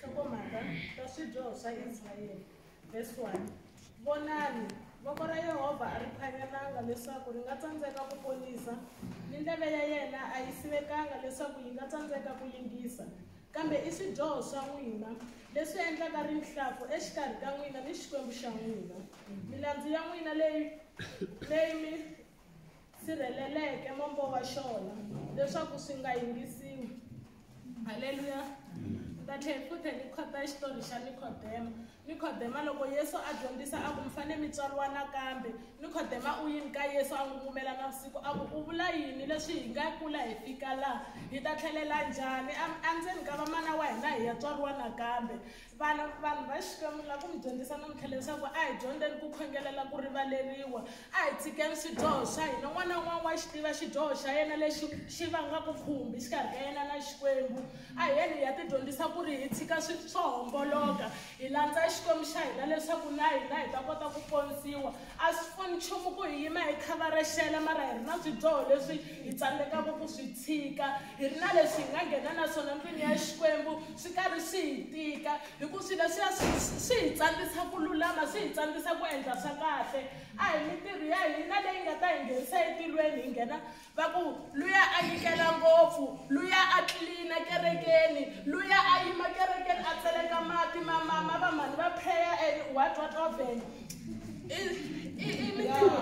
nhlokomhaka ta swidyoho swa israyele vhesi 1 vonani voko ra yehovha a ri phanyelanga leswaku ri nga tsandzeka ku ponisa ni ndleve ya yena a yi sivekanga leswaku yi nga tsandzeka ku yingisa kambe i swidyoho swa n'wina leswi endlaka rinhlampfu exikarhi ka n'wina ni xikwembu xa n'wina milandzu ya n'wina leyi leyi mi sirheleleke mombo wa xona leswaku swi nga yingisiwi halleluya ta tlhela futhi ni khota xitori xa nikhodema nikhodema loko yesu a dyondzisa a ku mi fanele mi tswariwa nakambe nikhodema u yini ka yesu a n'wi kumela na vusiku a ku u vula yini leswi hi nga kula hi fika laha hi ta tlhelela njhani endzeni ka vamana wa hina hi ya tswariwa nakambe Vana vanhu va Xikwembu la ku mi dyondzisa namuntlha leswaku a hi dyondzeni ku khongelela ku rivaleriwa a hi tshikeni swidyoho swa hina n'wana un'wana wa xi tiva xidyoho xa yena lexi xi vangaka khumbi xikarhi ka yena na Xikwembu a hi yeni hi ya tidyondzisa ku ri hi tshika swi swo homboloka hi landza Xikwembu xa hina leswaku na hina hi ta kota ku ponisiwa a swi pfuni nchumu ku hi yima hi khavarexela mara hi ri na swidyoho leswi hi tsandzekaka ku swi tshika Hi ri na leswi hi nga nghena na swona ndlwini ya Xikwembu swi karhi swi hi tika, hi ku swilo leswiya swi swi hi tsandzisa ku lulama, swi hi tsandzisa ku endla swa kahle. A hi mintirho ya hina leyi nga ta hi nghenisa etilweni hi nghena va ku luya a nyikela ngopfu, luya a tlilina kerekeni, luya a yima kerekeni a tseleka mati ma ma ma va mhani va prayer and what what what then.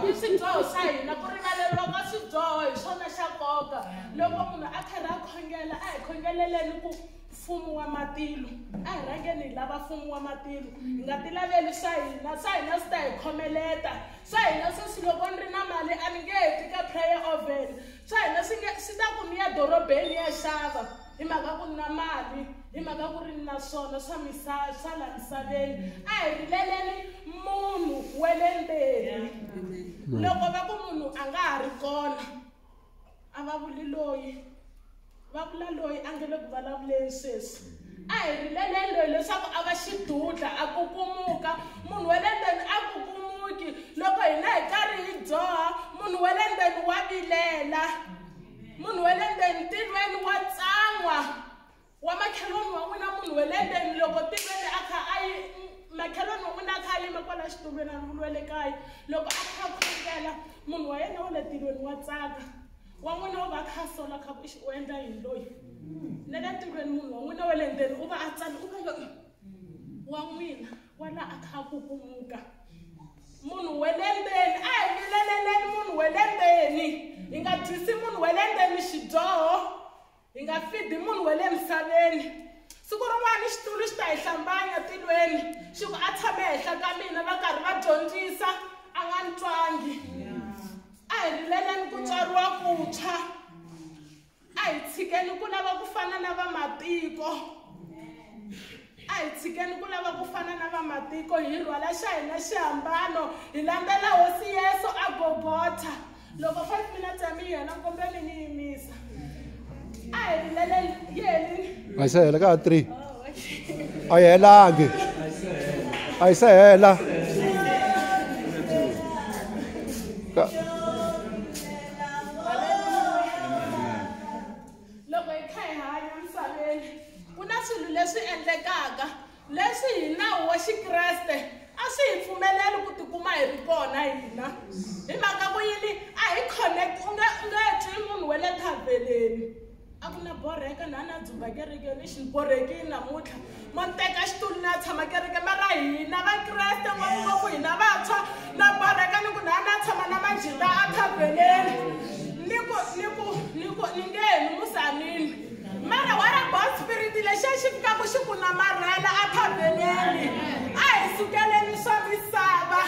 i swidyoho swa hina ku rivaleriwa ka swidyoho hi swona xa nkoka loko munhu a karhi a khongela a hi khongeleleni ku mfumo wa matilo a hi rhangeni hi lava mfumo wa matilo hi nga ti laveli swa hina swa hina swi ta hi khomeleta swa hina sweswi loko ni ri na mali a ni nge heti ka prayer oven swa hina swi nge swi ta ku ni ya dorobeni ya xava hi mhaka ku ni na mali hi mhaka ku ri ni na swona swa misa swa la misaveni a hi rileleni munhu wa le mbeni loko va ku munhu a nga ha ri kona a va vuli loyi va vula loyi a nge le ku vulavuleni sweswi a hi rileleni loyi leswaku a va xidudla a kukumuka munhu wa le mbeni a kukumuki loko hina hi karhi hi dzoha munhu wa le mbeni wa vilela munhu wa le ndeni ntirhweni wa tsan'wa wa makheloni wa n'wina munhu wa le ndeni loko ntirhweni a kha a yi makheloni wa n'wina a kha a yime kwala xitulweni a ri le kaya loko a kha khongela munhu wa yena wa le ntirhweni wa tsaka wa n'wina u va a kha a sola kha ku u endla yini loyi na le ntirhweni munhu wa n'wina wa le ndeni u va a tsani u va loyi wa n'wina wa la a kha a kukumuka munhu we le ndzeni a hi vileleleni munhu we le ndzeni hi nga dyisi munhu we le ndzeni xidyoho hi nga fidi munhu we le misaveni siku rin'wana xitulu xi ta hi hlambanya tilweni xi ku a tshame henhla ka mina va karhi va dyondzisa a nga ni twangi a hi rileleni ku tswariwa ku tshwa a hi tshikeni ku lava ku fana na vamatiko a hi tshikeni ku lava ku fana na vamatiko hi rhwala xa hina xihambano hi landzela hosi yesu a gogotha loko five minutes ya mi yena kumbe mi ni yimisa a hi rilele yeni a yi se hela ka ha three a yi helangi a yi se hela loko hi kha hi hanya misaveni ku na swilo leswi endlekaka leswi hi nawu wa xikreste a swi hi pfumeleli ku tikuma hi ri kona hina hi mhaka ku yini a hi connect u nge u nge twi munhu wa le thaveleni a ku na borheka na na dzumba kereke ni xiborheki namuntlha mo teka xitulu na tshama kereke ma ra hina vakreste ngopfungopfu hina vantshwa na borheka ni ku na na tshama na majita a thaveleni ni ku ni ku ni ku ni nge ni musanini mara wa ra bon spirit lexi a xi fikaku xi ku namarhela a thaveleni a hi sukeleni swa misava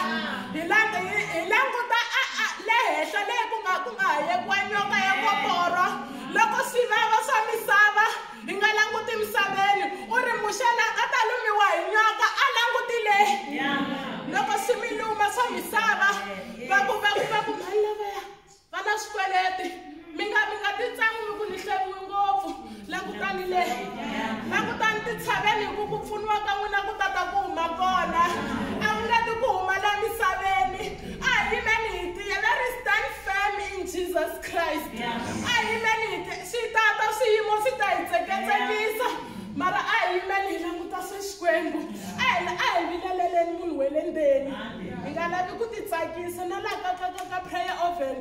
Hi la, hi, hi languta a, a, le henhla leyi ku nga ku nga ha yekiwa nyoka ya koporo loko swivava swa misava hi nga languti misaveni u ri muxe la nga ta lumiwa hi nyoka a languti le loko swi mi luma swa misava va ku va ku va ku mali lavaya Vana swikweleti mi nga mi nga titsangi mi ku ni hleriwi ngopfu langutani le langutani titshaveni hi ku ku pfuniwa ka n'wina ku tata ku huma kona a ku leti ku huma la misaveni a hi yimeni hi tiya let us stand firm in jesus christ a hi yimeni hi tiya swi tata swiyimo swi ta hi tseketsekisa mara a hi yimeni hi languta se xikwembu a hi a hi vileleleni munhu we le ndzeni hi nga lavi ku titsakisa na laha ka ka ka ka prayer oven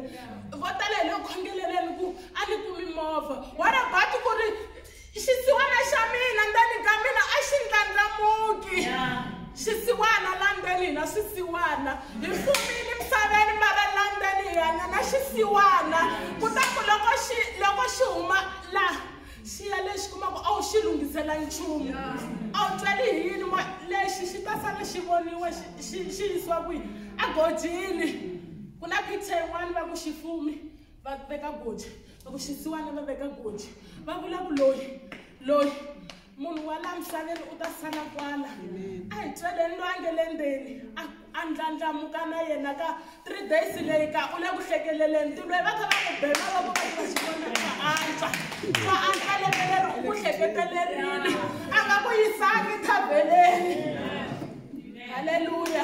vo tala hi le ku khongeleleni ku a ni kumi movha wa rabati ku ri xisiwana xa mina ndzeni ka mina a xi ndlandlamuki xisiwana la ndzeni hina swisiwana hi fumile emisaveni mara la ndzeni hi hanya na xisiwana kutani loko xi loko xi huma laha Xiya lexi kumaka a wu xi lunghisela nchumu a wu tweli hi yini moya lexi xi ta sala xi voniwe xi yisiwa kwihi egojini ku na picture yin'wana va ku xifumi va veka goji va ku xisiwana va veka goji va vula ku loyi loyi munhu wa laha misaveni u ta sala kwala a hi tweleni loyi a nge le ndzeni a a ndlandlamuka na yena ka three days leyi ka u le ku hlekeleleni ti lweyi va kha va n'wi bela loko va tiva xivona va antswa va antswa lembe leri u ku hleketelelini a nga ku yisangi thabeleni halleluya